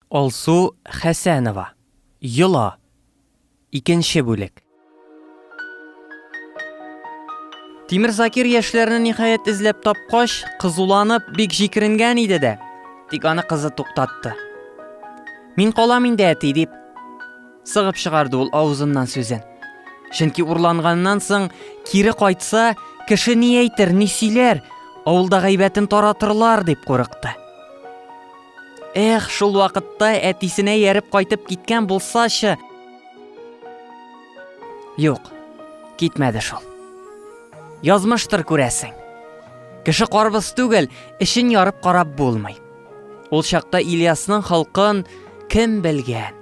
Алсу Хәсәнова, Йола, икенче бүлек. Тимер Закир яшьләрне ниһаять эзләп тапкач, кызуланып, бик җикеренгән иде дә. Тик аны кызы туктатты. Мин калам инде, әти, дип. Сыгып чыгарды ул авызыннан сүзен. Чөнки урланганнан соң кире кайтса, кеше ни әйтер, ни сөйләр, авылда гайбәтен таратырлар дип курыкты. Эх, шул вакытта әтисенә ярып кайтып киткән булсачы. Юк, китмәде шул. Язмыштыр күрәсең. Кеше карбыз түгел, эшен ярып карап булмый. Ул чакта Ильясның халкын кем белгән?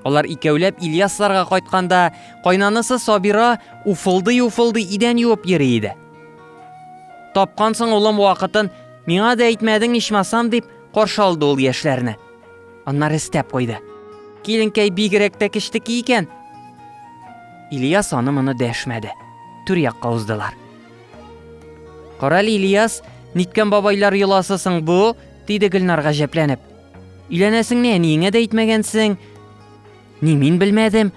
Алар икәүләп Ильясларга кайтканда, кайнанысы Сабира уфылдый-уфылдый идән юып йөри иде. Тапкансың улым вакытын, Миңа да әйтмәдең ичмасам, дип каршы алды ул яшьләрне. Аннары өстәп куйды. Киленкәй бигрәк тә кечтеки икән. Ильяс аны моны дәшмәде. Түр якка уздылар. Карале Ильяс, ниткән бабайлар йоласы соң бу? диде Гөлнар гаҗәпләнеп. Өйләнәсеңне әниеңә дә әйтмәгәнсең. Ни мин белмәдем,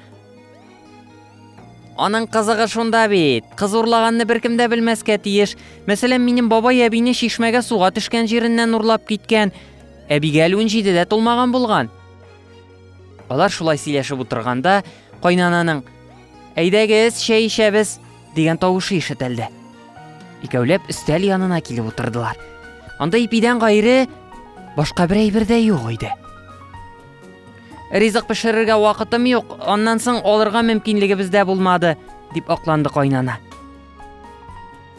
Аның кызыгы шунда бит, кыз урлаганны беркем дә белмәскә тиеш. Мәсәлән, минем бабай әбине чишмәгә суга төшкән җиреннән урлап киткән. Әбигә әле унҗидедә тулмаган булган. Алар шулай сөйләшеп утырганда, кайнананың Әйдәгез, чәй эчәбез дигән тавышы ишетелде. Икәүләп өстәл янына килеп утырдылар. Анда ипидән гайре башка бер әйбер дә юк иде. Ризык пешерергә вакытым юк, аннан соң алырга мөмкинлегебез дә булмады, дип акланды кайнана.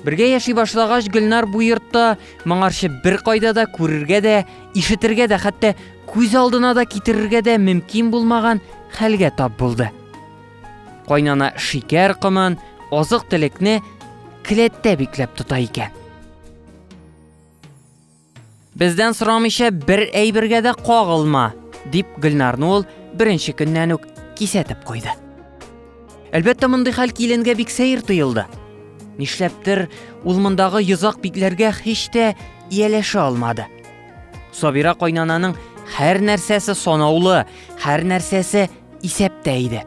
Бергә яши башлагач, Гөлнар бу йортта моңарчы бер кайда да күрергә дә, ишетергә дә, хәтта күз алдына да китерергә дә мөмкин булмаган хәлгә тап булды. Кайнана шикәр комын, азык-төлекне келәттә бикләп тота икән. Бездән сорамыйча бер әйбергә дә кагылма, дип Гөлнарны ул беренче көннән үк кисәтеп куйды. Әлбәттә, мондый хәл киленгә бик сәер тоелды. Нишләптер, ул мондагы йозак битләргә һич тә ияләшә алмады. Сабира кайнананың һәр нәрсәсе санаулы, һәр нәрсәсе исәптә иде.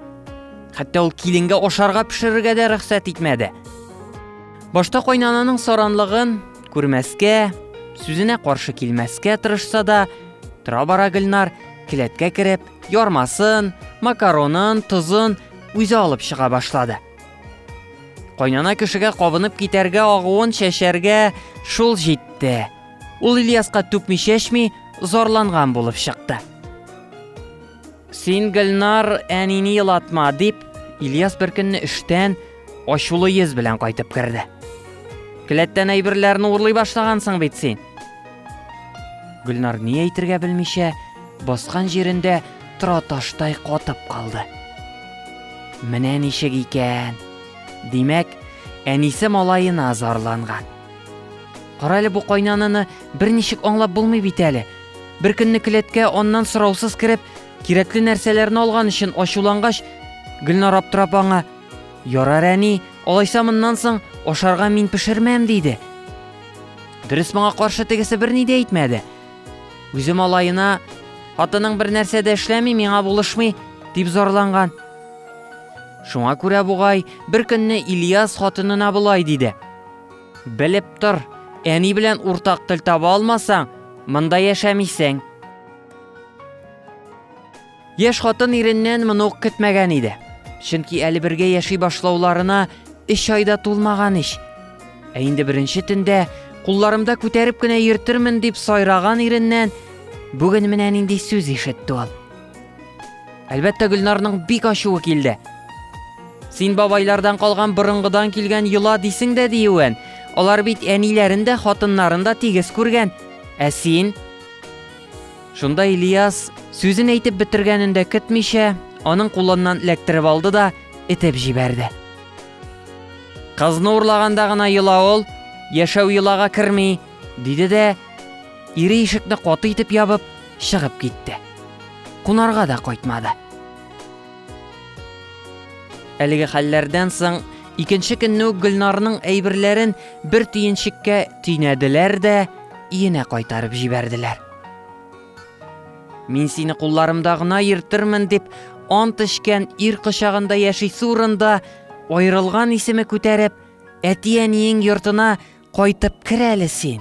Хәтта ул киленгә ашарга пешерергә дә рөхсәт итмәде. Башта кайнананың саранлыгын күрмәскә, сүзенә каршы килмәскә тырышса да, тора-бара Гөлнар келәткә кереп, ярмасын, макаронын, тозын үзе алып чыга башлады. Кайнана кешегә кабынып китәргә агуын чәчәргә шул җитте. Ул Ильяска түкми чәчми зарланган булып чыкты. Син, Гөлнар, әнине елатма, дип, Ильяс беркөнне эштән Ачулы йөз белән кайтып керде. Келәттән әйберләрне урлый башлагансың бит син. Гөлнар ни әйтергә белмичә, баскан җирендә тора таштай катып калды. Менә ничек икән. Димәк, әнисе малаена зарланган. Карале бу кайнаныны берничек аңлап булмый бит әле. Бер көнне келәткә аннан сораусыз кереп, кирәкле нәрсәләрне алган өчен ачулангач, Гөлнар аптырап аңа Ярар, әни, алайса моннан соң ашарга мин пешермәм, диде. Дөрес моңа каршы тегесе берни дә әйтмәде. Үзем алаена, хатының бер нәрсә дә эшләми, миңа булышмый, дип зарланган. Шуңа күрә бугай, бер көнне Ильяс хатынына болай диде. Белеп тор, әни белән уртак тел таба алмасаң, монда яшәмисең. Яшь хатын иреннән моны ук көтмәгән иде. Чөнки әле бергә яши башлауларына өч айда тулмаган ич. Ә инде беренче төндә кулларымда күтәреп кенә йөртермен дип сайраган иреннән бүген менә нинди сүз ишетте ул. Әлбәттә, Гөлнарның бик ачуы килде. Син бабайлардан калган борынгыдан килгән йола дисең дә диюен. Алар бит әниләрен дә, хатыннарын да тигез күргән. Ә син? Шунда Ильяс, сүзен әйтеп бетергәнен дә көтмичә, аның кулыннан эләктереп алды да этеп җибәрде. Кызны урлаганда гына йола ул, яшәү йолага керми, диде дә, ире ишекне каты итеп ябып, чыгып китте. Кунарга да кайтмады. Әлеге хәлләрдән соң икенче көнне үк Гөлнарның әйберләрен бер төенчеккә төйнәделәр дә, иенә кайтарып җибәрделәр. Мин сине кулларымда гына йөртермен дип ант эчкән ир кочагында яшисе урында аерылган исеме күтәреп, әти-әниең йортына кайтып кер әле син.